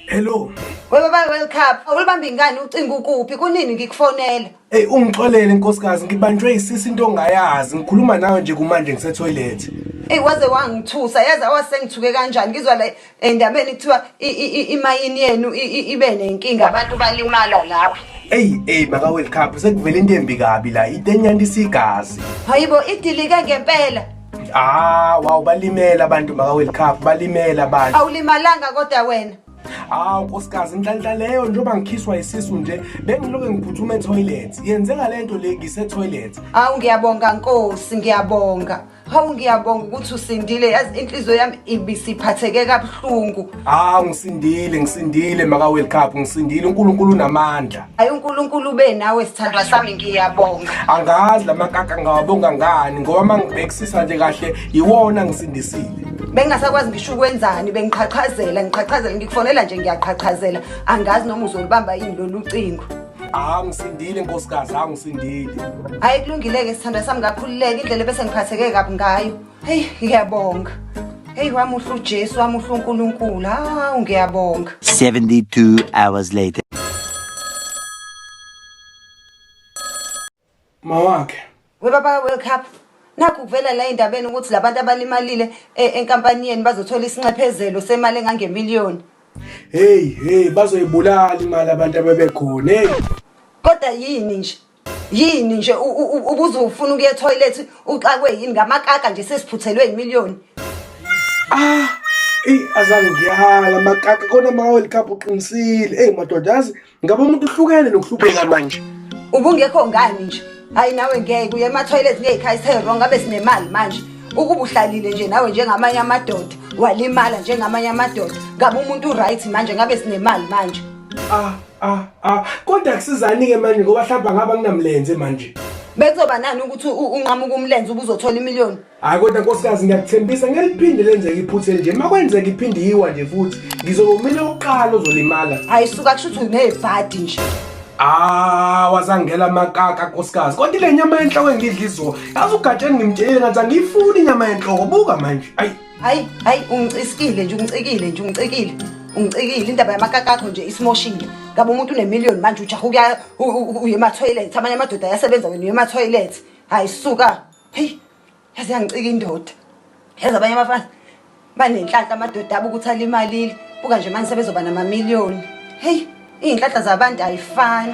Hello. Wena ba World Cup, awulibambi ngani ucinga ukuphi? Kunini ngikufonela? Hey ungixolele nkosikazi, ngibanjwe isisi into ongayazi. Ngikhuluma nawe nje kumanje ngise toilet. Ey waze wangithusa yazi awasengithuke kanjani ngizwa la endabeni kuthiwa i- i- i- imayini yenu i- i- ibe nenkinga abantu balimala lapho Eyi eyi maka World Cup sekuvela into embi kabi la itenyanda isigazi. hayibo idilike ngempela Ah wow balimela abantu maka World Cup balimela abantu. awulimalanga kodwa wena Hawu nkosikazi inhlanhla leyo njengoba ngikhiswa isisu nje bengiloke ngiphuthume etoilet. Yenzeka lento le ngise toilet. awu ngiyabonga nkosi ngiyabonga Hawu ngiyabonga ukuthi usindile yazi inhliziyo yami ibisiphatheke kabuhlungu. Ah ngisindile ngisindile maka World Cup ngisindile uNkulunkulu unamandla. Hayi uNkulunkulu ube nawe sithandwa sami ngiyabonga. Angazi lamakaka ngawabonga ngani ngoba mangibhekisisa nje kahle yiwona ngisindisile. Bengingasakwazi ngisho ukwenzani bengiqhaqhazela ngiqhaqhazela ngikufonela nje ngiyaqhaqhazela angazi noma uzolibamba yini lolu cingo. hawu ngisindile nkosikazi hawu ngisindile hayi kulungile-ke sithandwa sami ngakhululeka indlela bese ngiphatheke kabi ngayo heyi ngiyabonga heyi wamuhle ujesu wamuhle unkulunkulu hawu ngiyabonga 72 hours later mawakhe webaba world cup nakho kuvela la endabeni ukuthi labantu abalimalile eh, enkampani yenu bazothola isinxephezelo semali engangemiliyoni hey hey bazoyibulala imali abantu abebekhona hey kodwa yini nje yini nje ubuze ufuna ukuya toilet uxakwe yini ngamakaka nje sesiphuthelwe imiliyoni ah ey azange ngiyahala makaka kona ma world cup uqinisile ey madoda yazi Ngabe umuntu uhlukene nokuhlupheka manje. Ubungekho ngani nje? Hayi nawe ngeke uye ema-toilet ngeyikhaya isewrong ngabe sinemali manje. Ukuba uhlalile nje nawe njengamanye amadoda, walimala njengamanye amadoda. Ngabe umuntu uright manje ngabe sinemali manje. Ah ah ah kodwa kusizani ke manje ngoba hlamba ngaba nginamlenze manje. Bekuzoba nani ukuthi u- unqamuka umlenze ubuzothola imiliyoni? hayi kodwa nkosikazi ngiyakuthembisa ngeliphinde lenzeke iphutha elinje uma kwenzeka iphinde yiwa nje futhi ngizobe mina oqala ozolimala hayi suka kusho ukuthi unebhadi nje Ah wazangela makaka nkosikazi kodwa le nyama yenhloko engidla izo yazi ugatsheni ngimtshele ngathi angiyifuni inyama yenhloko buka manje ayi hayi hayi ungicisikile nje ungicikile nje ungicikile ungicikile indaba yamakakakho nje isimoshile ngabe umuntu unemillion manje ujaha uya uye emathoyilethi amanye amadoda ayasebenza wena uye emathoyilethi hayi suka heyi yaze yangicika indoda yazi abanye abafazi banenhlanhla amadoda abo ukuthi alimalile buka nje manje sebezoba namamiliyoni heyi iy'nhlahla zabantu ayifani